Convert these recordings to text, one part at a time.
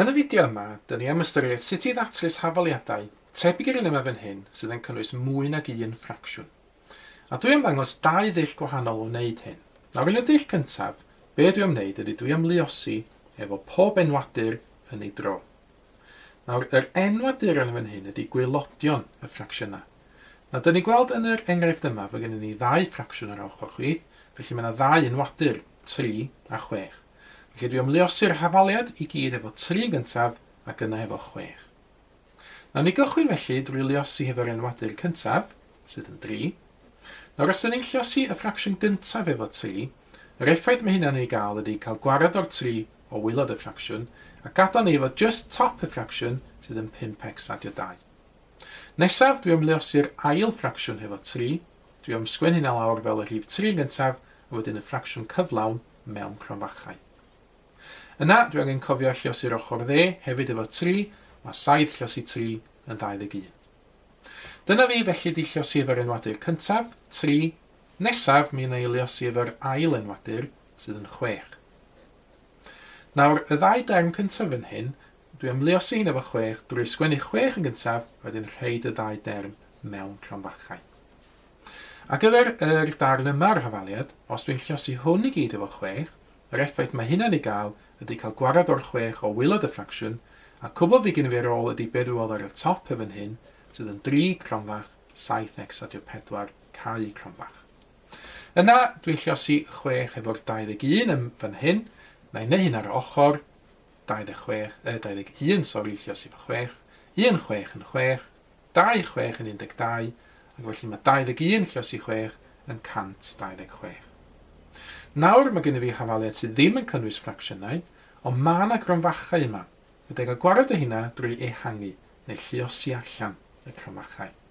Yn y fideo yma, dyn ni am ystyried sut i ddatrys hafaliadau, tebyg i'r un yma fan hyn, sydd yn cynnwys mwy nag un ffracsiwn. A dwi am ddangos dau ddull gwahanol o wneud hyn. Nawr yn y dull cyntaf, be dwi am wneud ydy dwi am luosi efo pob enwadur yn ei dro. Nawr, yr enw a dur yn fan hyn ydy gwaelodion y ffracsiynau. Nawr, dyn ni'n gweld yn yr enghraifft yma fod gennym ni ddau ffracsiwn ar ochr chwith, felly mae yna ddau enwadur, 3 a 6. Felly dwi am luosi'r hafaliad i gyd efo 3 yn gyntaf ac yna efo 6. Nawr, ni gychwyn felly drwy luosi hefo'r enwadur cyntaf, sydd yn 3. Nawr, os dyn ni'n lluosi y ffracsiwn gyntaf efo 3, yr effaith mae hynna'n ei gael ydy cael gwared o'r 3 o waelod y ffracsiwn, a gadael ni efo jyst top y ffracsiwn sydd yn 5x a dy 2. Nesaf, dwi am luosi'r ail ffracsiwn hefo 3, dwi am sgwen hynna lawr fel y rhif 3 yn gyntaf, a wedyn y ffracsiwn cyflawn mewn cronfachau. Yna, dwi angen cofio lliosi'r ochr dde hefyd efo 3, mae 7 lliosi 3 yn 21. Dyna fi, felly di lliosi efo'r enwadur cyntaf, 3, nesaf mi yna i lliosi efo'r ail enwadur, sydd yn chwech. Nawr, y ddau derm cyntaf yn hyn, dwi am luosi hyn efo chwech, drwy sgwennu chwech yn gyntaf, wedyn rhaid y ddau derm mewn cronfachau. Ar gyfer yr darn yma o'r hafaliad, os dwi'n lliosi hwn i gyd efo chwech, yr effaith mae hynna'n ei gael ydy cael gwarad o'r chwech o wilod y ffracsiwn, a cwbl fi gyn fi ar ôl ydy be dwi weld ar y top yn fan hyn, sydd yn dri cronfach, saith x a dio pedwar, cau cronfach. Yna, dwi'n lliosi chwech efo'r 21 yn fan hyn, na i neu hyn ar yr ochr, 26, yy, 21, sori, lliosi fo chwech, un chwech yn chwech, dau chwech yn 12, ac felly mae 21 lliosi chwech yn 126. Nawr, mae gen i fi hafaliad sydd ddim yn cynnwys ffracsiynau, ond mae yna gronfachau yma. Fe dega gwared o hynna drwy ehangu, neu lliosi allan, y cronfachau.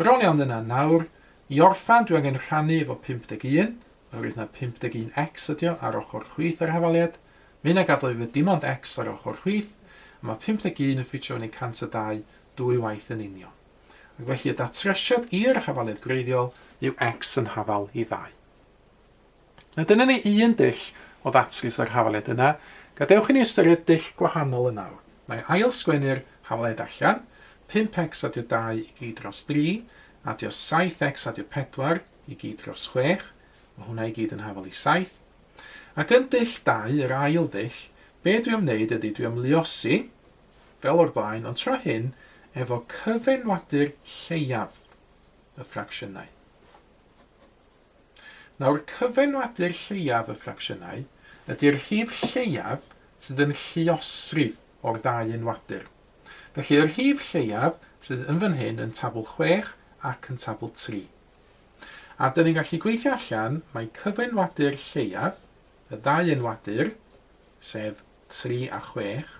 Bron iawn yna nawr. I orffen, dwi angen rhannu efo 51, oherwydd na 51 X ydi o ar ochr chwith yr hafaliad. Mae hynna gadal fi efo dim ond X ar ochr chwith, a mae 51 yn ffitio fyny 102 dwy waith yn union. Ac felly y datrisiad i'r hafaliad gwreiddiol yw X yn hafal i ddau. A dyna ni un dull o ddatrys yr hafaliad yna. Gadewch i ni ystyried dull gwahanol yn awr. Na i ail-sgwennu'r hafaliad allan, 5x adio 2 i gyd dros 3, adio 7x adio 4 i gyd dros 6, mae hwnna i gyd yn hafal i 7. Ac yn dull 2, yr ail ddull, be dwi am wneud ydy dwi am luosi, fel o'r blaen, ond tro hyn efo cyfenwadur lleiaf y ffracsiynau. Nawr, cyfenwadur lleiaf y ffracsiynau ydy'r rhif lleiaf sydd yn lluosrif o'r ddau enwadur. Felly, y rhif lleiaf sydd yn fan hyn yn tabl chwech ac yn tabl tri. A dyn ni'n gallu gweithio allan mai cyfenwadur lleiaf y ddau enwadur, sef tri a chwech,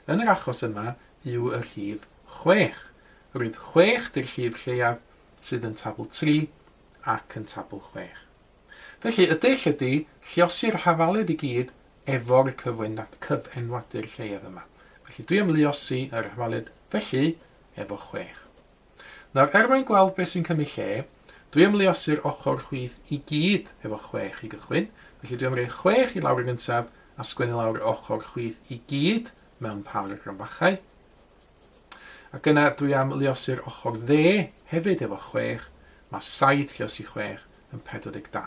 yn yr achos yma yw y rhif chwech. Roedd chwech 'di'r rhif lleiaf sydd yn tabl tri ac yn tabl chwech. Felly, y dull ydy lluosi'r hafaled i gyd efo'r cyfenwadur lleiaf yma. Felly, dwi am luosi yr hafaled felly efo chwech. Nawr, er mwyn gweld beth sy'n cymryd lle, dwi am luosi'r ochr chwith i gyd efo chwech i gychwyn, felly dwi am roi chwech i lawr yn gyntaf a sgwennu lawr y ochr chwith i gyd mewn pâr o grambachau. Ac yna dwi am luosu'r ochr dde hefyd efo 6, mae 7 lluosi 6 yn 42.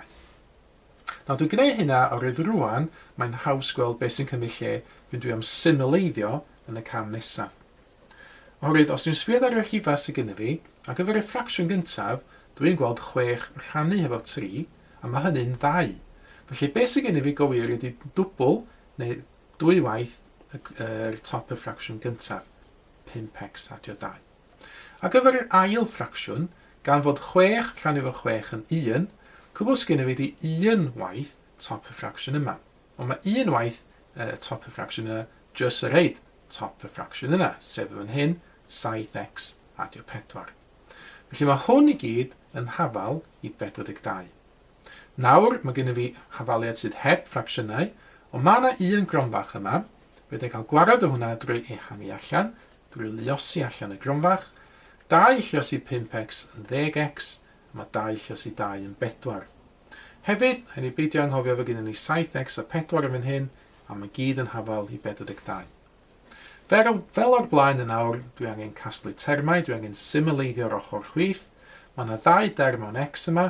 Nawr dwi'n gwneud hynna oherwydd rwan mae'n haws gweld beth sy'n cymryd lle pan dwi am symleiddio yn y cam nesaf. Oherwydd os dwi'n sbio ar y rhifau sydd gyda fi, ar gyfer y ffracsiwn gyntaf, dwi'n gweld 6 rhannu hefo 3, a mae hynny'n ddau. Felly beth sydd gyda fi go wir ydy dwbl, neu Dwy waith yr top y ffracsiwn gyntaf, 5x adio 2. Ar gyfer yr ail ffracsiwn, gan fod 6 rhannu fo 6 yn 1, cwbl sy gennyf fi ydi un waith top y ffracsiwn yma. Ond mae un waith y top y ffracsiwn yna jyst yn rhaid top y ffracsiwn yna, sef yn fan hyn, 7x adio 4. Felly mae hwn i gyd yn hafal i 42. Nawr, mae gennyf fi hafaliad sydd heb ffracsiynau, ond mae yna un gronfach yma. Fedra i cael gwared o hwnna drwy ehangu allan, drwy luosi allan y gronfach. 2 lluosi 5x yn 10x, a mae 2 lluosi 2 yn 4. Hefyd, rhaid ni beidio anghofio fod gennym ni 7x a 4 yn fan hyn, a mae gyd yn hafal i 42. Fel, fel o'r blaen yn awr, dwi angen casglu termau, dwi angen symleiddio'r ochr chwith. Mae yna ddau derm o'n x yma,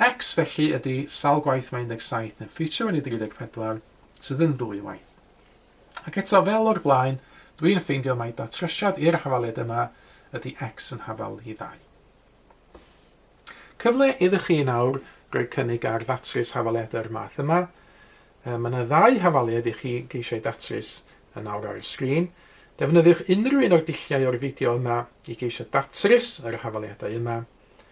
X felly ydy sawl gwaith mae 17 yn ffitio yn y 34 sydd yn ddwy waith. Ac eto fel o'r blaen, dwi'n ffeindio mai datrysiad i'r hafaliad yma ydy X yn hafal i ddau. Cyfle iddo chi yn awr roi cynnig ar ddatrys hafaliad yr math yma. Mae yna ddau hafaliad i chi geisiau datrys yn awr ar y sgrin. Defnyddiwch unrhyw un o'r dulliau o'r fideo yma i geisio datrys yr hafaliadau yma.